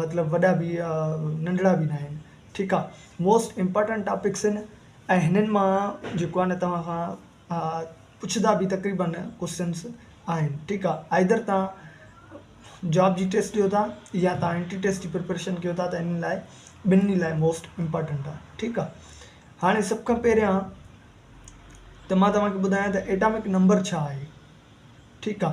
مطلب وڏا به ننڍڙا به ناهن ٺيڪ آ موسٽ امپارٽنٽ ٽاپڪس ان ۽ هنن مان جيڪو آ نه توهان کان پڇدا به تقريبا ڪوسچنس آهن ٺيڪ آ آئدر توهان جاب جي ٽيسٽ ڏيو ٿا يا توهان انٽري ٽيسٽ جي پريپريشن ڪيو ٿا ته ان لاء ٻنهي لاء موسٽ امپارٽنٽ آ ٺيڪ آ هاڻي سڀ کان پهريان ته مان توهان کي ٻڌايان ته ايٽامڪ نمبر ڇا آهي ٺيڪ آ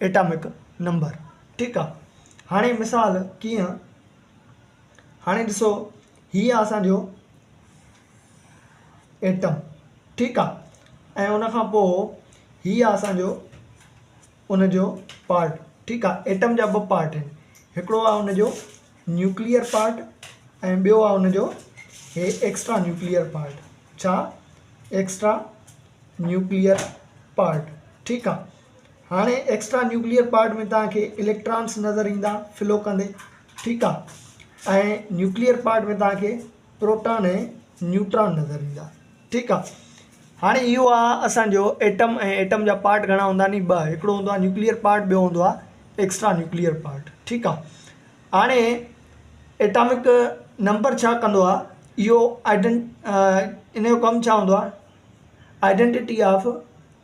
ايٽامڪ نمبر ٺيڪ آ هاڻي مثال ڪيئن هاڻي ڏسو هي آ اسان جو ايٽم ٺيڪ آ ۽ ان کان پوء هي آ اسان جو ان جو پارٽ ٺيڪ آ ايٽم جا ٻه پارٽ آهن هڪڙو آ ان جو نيوڪليئر پارٽ ۽ ٻيو آ ان جو هي ايڪسٽرا نيوڪليئر پارٽ ڇا ايڪسٽرا نيوڪليئر پارٽ ٺيڪ آ هاڻي ايڪسٽرا نيوڪليئر پارٽ ۾ توهان کي اليڪٽرانس نظر ايندا فلو ڪندي ٺيڪ آ ۽ نيوڪليئر پارٽ ۾ توهان کي پروٽان ۽ نيوٽران نظر ايندا ٺيڪ آ هاڻي اهو آ اسان جو ايٽم ۽ ايٽم جا پارٽ گهڻا هوندا ني ٻه هڪڙو هوندو آ نيوڪليئر پارٽ ٻيو هوندو آ ايڪسٽرا نيوڪليئر پارٽ ٺيڪ آ هاڻي ايٽامڪ نمبر ڇا ڪندو آ اهو آئيڊنٽ ان جو ڪم ڇا هوندو آ آئيڊنٽٽي آف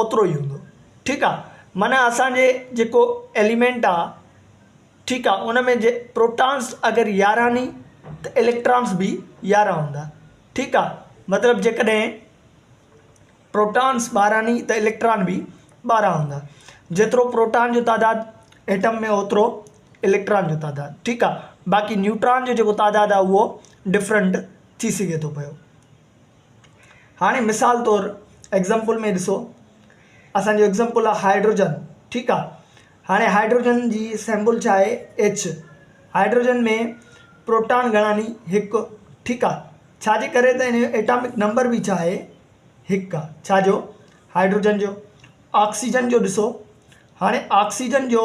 اوترو ئي هوندو ٺيڪ آ معنيٰ اسان جي جيڪو ايليمينٽ آ ٺيڪ آ ان ۾ جي پروٽانس اگر يارهن ني ته اليڪٽرانس به يارهن هوندا ٺيڪ آ مطلب جيڪڏهن پروٽانس ٻارهن ني ته اليڪٽران به ٻارهن هوندا جيترو پروٽان جو تعداد ايٽم ۾ اوترو اليڪٽران جو تعداد ٺيڪ آ باقي نيوٽران جو جيڪو تعداد آ اهو ڊفرنٽ ٿي سگهي ٿو پيو هاڻي مثال طور ايگزامپل ۾ ڏسو اسان جو ايگزامپل آ هائيڊروجن ٺيڪ آ هاڻي هائيڊروجن جي سيمبل ڇا آهي ايڇ هائيڊروجن ۾ پروٽان گهڻا ني هڪ ٺيڪ آ ڇا جي ڪري ته ان جو ايٽامڪ نمبر به ڇا آهي هڪ آ ڇا جو هائيڊروجن جو آڪسيجن جو ڏسو هاڻي آڪسيجن جو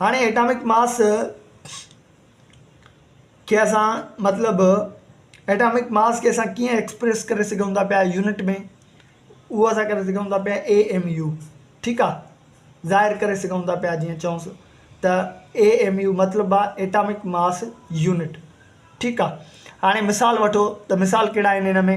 هاڻي ايٽامڪ ماس کي اسان مطلب ايٽامڪ ماس کي اسان ڪيئن ايڪسپريس ڪري سگهون ٿا پيا يونٽ ۾ اهو اسان ڪري سگهون ٿا پيا اي ايم يو ٺيڪ آهي ظاهر ڪري سگهون ٿا پيا جيئن چئون سو ته اي ايم يو مطلب آهي ايٽامڪ ماس يونٽ ٺيڪ آهي هاڻي مثال وٺو ته مثال ڪهڙا آهن هن ۾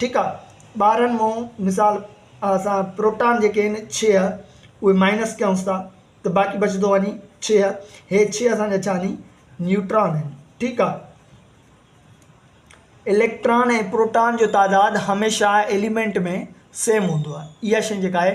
ٺيڪ آ ٻارهن مون مثال اسان پروٽان جيڪي آهن ڇهه اهي مائنس ڪيونس ٿا ته باقي بچدو وڃي ڇهه ھي ڇهه اسانجا ڇا ني نيوٽران آهن ٺيڪ آ اليڪٽران ۽ پروٽان جو تعداد هميشه ايليمينٽ ۾ سيم هوندو آ اها شئي جيڪا آهي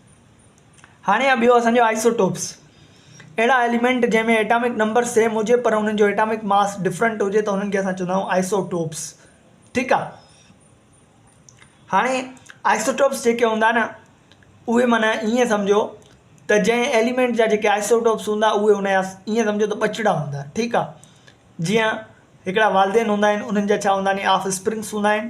هاڻي آهي ٻيو اسان جو آئسوٽوپس اهڙا ايليمينٽ جنهن ۾ ايٽامڪ نمبر سيم هجي پر انهن جو ايٽامڪ ماس ڊفرنٽ هجي ته انهن کي اسان چوندا آهيون آئسوٽوپس ٺيڪ آهي هاڻي آئسوٽوپس جيڪي هوندا نه اهي مانا ائين سمجھو ته جنهن ايليمينٽ جا جيڪي آئسوٽوپس هوندا اهي ان جا ائين سمجھو ته ٻچڙا هوندا ٺيڪ آهي جيئن هڪڙا والدين هوندا آهن انهن جا ڇا هوندا آهن آف اسپرنگس هوندا آهن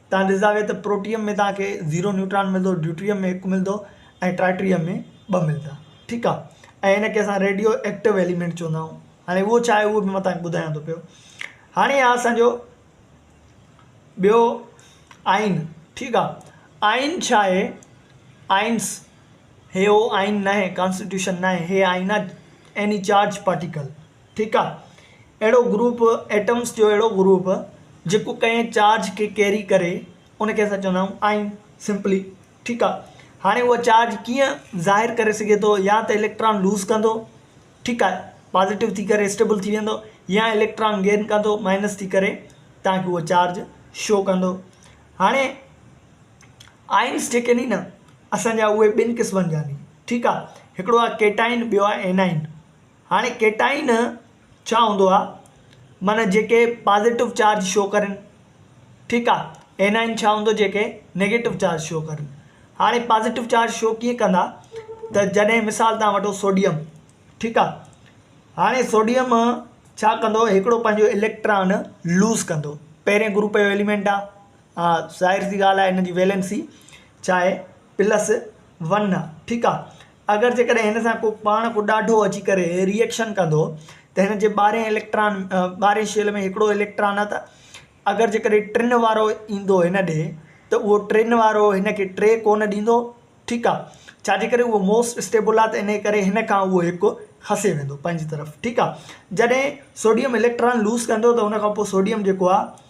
توهان ڏسندا به ته پروٽيم ۾ توهان کي زيرو نيوٽران ملندو ڊيوٽريم ۾ هڪ ملندو ۽ ٽرائٽريم ۾ ٻه ملندا ٺيڪ آ ۽ هن کي اسان ريڊيو ايڪٽو ايليمينٽ چوندا آهيون هاڻي اهو ڇا آهي اهو به مان توهان کي ٻڌايان ٿو پيو هاڻي آ اسان جو ٻيو آئين ٺيڪ آ آئين ڇا آهي آئينس هي هو آئين ناهي ڪانسٽيٽيوشن ناهي هي آئين آ ايني چارج پارٽيڪل ٺيڪ آ اهڙو گروپ ايٽمس جو اهڙو گروپ جيڪو ڪنهن چارج کي ڪيري ڪري ان کي اسان چوندا آهيون آئن سمپلي ٺيڪ آ هاڻي اهو چارج ڪيئن ظاهر ڪري سگهي ٿو يا ته اليڪٽران لوز ڪندو ٺيڪ آ پازيٽو ٿي ڪري اسٽيبل ٿي ويندو يا اليڪٽران گين ڪندو مائنس ٿي ڪري تان کي اهو چارج شو ڪندو هاڻي آئنس جيڪي ني نه اسان جا اهي ٻن قسمن جا ني ٺيڪ آ هڪڙو آ ڪيٽائن ٻيو آ اينائن هاڻي ڪيٽائين ڇا هوندو آ معنيٰ جيڪي پازيٽو چارج شو ڪرن ٺيڪ آ اينائين ڇا هوندو جيڪي نيگيٽو چارج شو ڪرن هاڻي پازيٽو چارج شو ڪيئن ڪندا ته جڏهن مثال تان وٺو سوڊيم ٺيڪ آ هاڻي سوڊيم ڇا ڪندو هڪڙو پنهنجو اليڪٽران لوز ڪندو پهرين گروپ جو ايليمينٽ آ ها ظاهر سي ڳالهه آهي ان جي ويلنسي ڇا آهي پلس ون آهي ٺيڪ آهي اگر جيڪڏهن هن سان ڪو پاڻ ڪو ڏاڍو اچي ڪري ريئڪشن ڪندو ته هن جي ٻارهين اليڪٽران ٻارهين شيل ۾ هڪڙو اليڪٽران آهي ته اگر جيڪڏهن ٽن وارو ايندو هن ڏي ته اهو ٽن وارو هن کي ٽي ڪونه ڏيندو ٺيڪ آهي ڇاجي ڪري اهو موسٽ اسٽيبل آهي ته ان ڪري هن کان اهو هڪ کسي ويندو پنهنجي طرف ٺيڪ آهي جڏهن سوڊيم اليڪٽران لوز ڪندو ته ان کان پوء سوڊيم جيڪو آهي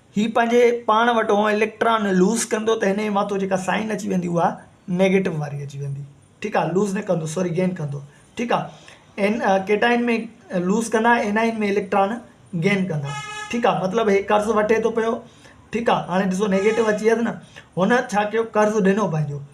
هي پنهنجي پاڻ وٽ هونء اليڪٽران لوز ڪندو ته هن جي مٿو جيڪا سائن اچي ويندي اها نيگيٽو واري اچي ويندي ٺيڪ آهي لوز نه ڪندو سوري گين ڪندو ٺيڪ آهي ان ڪيٽائن ۾ لوز ڪندا انائن ۾ اليڪٽران گين ڪندا ٺيڪ آهي مطلب هي قرض وٺي ٿو پيو ٺيڪ آهي هاڻي ڏسو نيگيٽو اچي ويس نه هن ڇا ڪيو قرض ڏنو پنهنجو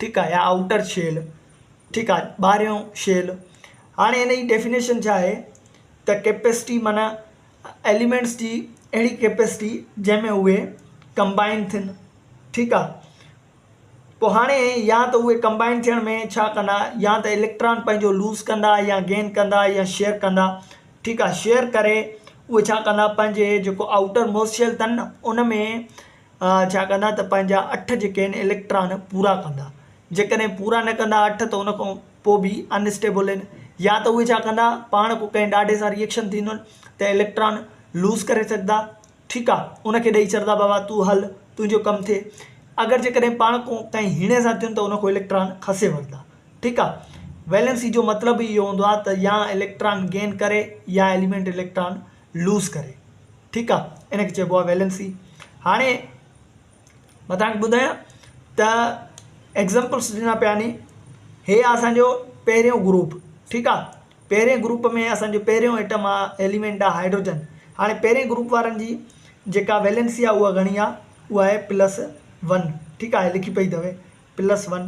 ٺيڪ آ يا آئوٽر شيل ٺيڪ آ ٻاهريون شيل هاڻي هن جي ڊيفينيشن ڇا آهي ته ڪيپيسٽي معنيٰ ايليمينٽس جي اهڙي ڪيپيسٽي جنهن ۾ اهي ڪمبائن ٿين ٺيڪ آ پوء هاڻي يا ته اهي ڪمبائن ٿيڻ ۾ ڇا ڪندا يا ته اليڪٽران پنهنجو لوز ڪندا يا گين ڪندا يا شيئر ڪندا ٺيڪ آ شيئر ڪري اهي ڇا ڪندا پنهنجي جيڪو آئوٽر موسٽ شيل اٿن نه ان ۾ ڇا ڪندا ته پنهنجا اٺ جيڪي آهن اليڪٽران پورا ڪندا جيڪڏهن پورا نه ڪندا اٺ ته ان کان پوء به انسٽيبل آهن يا ته اهي ڇا ڪندا پاڻ ڪو ڪنهن ڏاڍي سان ريئڪشن ٿيندن ته اليڪٽران لوز ڪري سگهندا ٺيڪ آهي ان کي ڏئي ڇڏندا بابا تون هل تنهنجو ڪم ٿئي اگر جيڪڏهن پاڻ ڪو ڪنهن هيڻي سان ٿين ته ان کان اليڪٽران کسي وٺندا ٺيڪ آهي ويلنسي جو مطلب اهو هوندو آهي ته يا اليڪٽران گين ڪري يا ايليمينٽ اليڪٽران لوز ڪري ٺيڪ آ ان کي چئبو آ ويلنسي هاڻي مان توهان کي ٻڌايان ته ايگزامپلس ڏنا پيا ني هي آ اسانجو پهريون گروپ ٺيڪ آ پهرين گروپ ۾ اسانجو پهريون ايٽم آ ايليمينٽ آ هائيڊروجن هاڻي پهرين گروپ وارن جي جيڪا ويلنسي آ اها گهڻي آ اها آهي پلس ون ٺيڪ آ لکي پئي تئوي پلس ون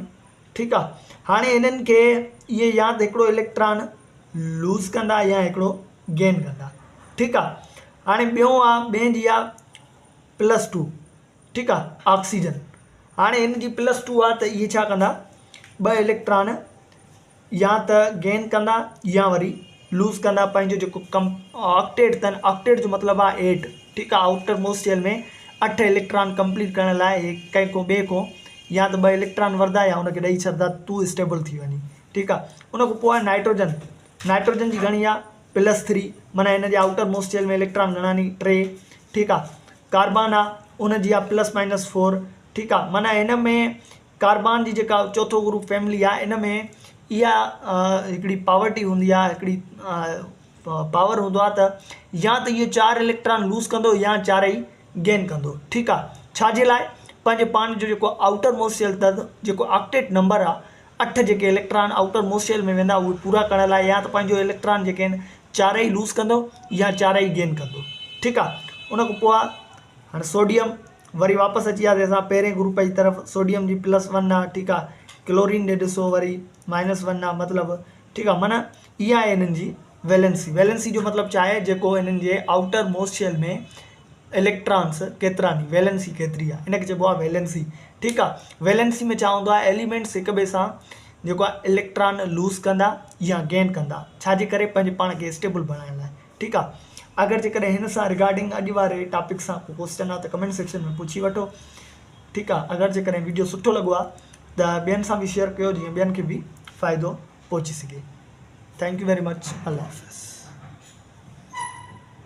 ٺيڪ آ هاڻي هنن کي اهي يا ته هڪڙو اليڪٽران لوز ڪندا يا هڪڙو گين ڪندا ٺيڪ آ هاڻي ٻيون آ ٻين جي آ پلس ٽو ٺيڪ آ آڪسيجن هاڻي هن جي پلس ٽو آ ته اهي ڇا ڪندا ٻه اليڪٽران يا ته گين ڪندا يا وري لوز ڪندا پنهنجو جيڪو ڪم آڪٽيٽ تن آڪٽيٽ جو مطلب آ ايٽ ٺيڪ آ آڪٽر موس شيل ۾ اٺ اليڪٽران ڪمپليٽ ڪرڻ لاء هي ڪنهن کو ٻئي کو يا ته ٻه اليڪٽران وردا يا هن کي ڏئي ڇڏدا تو اسٽيبل ٿي وڃي ٺيڪ آ ان کان پوء نائٽروجن نائٽروجن جي گهڻي آ پلس ٿري معنيٰ هن جي آئوٽر موسٽ شيل ۾ اليڪٽران گهڻاني ٽي ٺيڪ آ ڪاربان آ ان جي آ پلس مائنس فور ٺيڪ آ معنيٰ هن ۾ ڪاربان جي جيڪا چوٿو گروپ فيملي آ ان ۾ اها هڪڙي پاورٽي هوندي آ هڪڙي پاور هوندو آ ته يا ته اهو چار اليڪٽران لوز ڪندو يا چارئي گين ڪندو ٺيڪ آ ڇاجي لاء پنهنجي پاڻ جو جيڪو آئوٽر موسٽ شيل تد جيڪو آڪٽيٽ نمبر آ اٺ جيڪي اليڪٽران آئوٽر موسٽ شيل ۾ ويندا اهي پورا ڪرڻ لاء يا ته پنهنجو اليڪٽران جيڪي آهن چارئي لوز ڪندو يا چارئي گين ڪندو ٺيڪ آ ان کان پوء هاڻي سوڊيم وري واپس اچي وياسي اسان پهرين گروپ جي طرف سوڊيم جي پلس ون آ ٺيڪ آ ڪلورين ڏي ڏسو وري مائنس ون آ مطلب ٺيڪ آ معنيٰ اها آهي هنن جي ويلنسي، Valency، جو مطلب چاهي جيڪو انهن جي آئوٽر موسٽ شيل ۾ اليڪٽرانس ڪيتراني، ويلنسي ڪيتري آهي ان کي چئبو آهي ويلنسي ٺيڪ آهي ويلنسي ۾ ڇا هوندو آهي ايليمينٽس هڪ ٻئي سان جيڪو آهي اليڪٽران لوز ڪندا يا گين ڪندا ڇا جي ڪري پنهنجي پاڻ کي اسٽيبل بڻائڻ لاء ٺيڪ آهي اگر جي ڪڏهن هن سان رگارڊنگ اڄ واري ٽاپڪ سان ڪو ڪوسچن آهي ته ڪمينٽ سيڪشن ۾ پڇي وٺو ٺيڪ آهي اگر جي ڪڏهن ويڊيو سٺو لڳو آهي ته ٻين سان به شيئر ڪيو جيئن ٻين کي به فائدو پهچي سگهي ٿينڪ يو ويري مچ الله حافظ.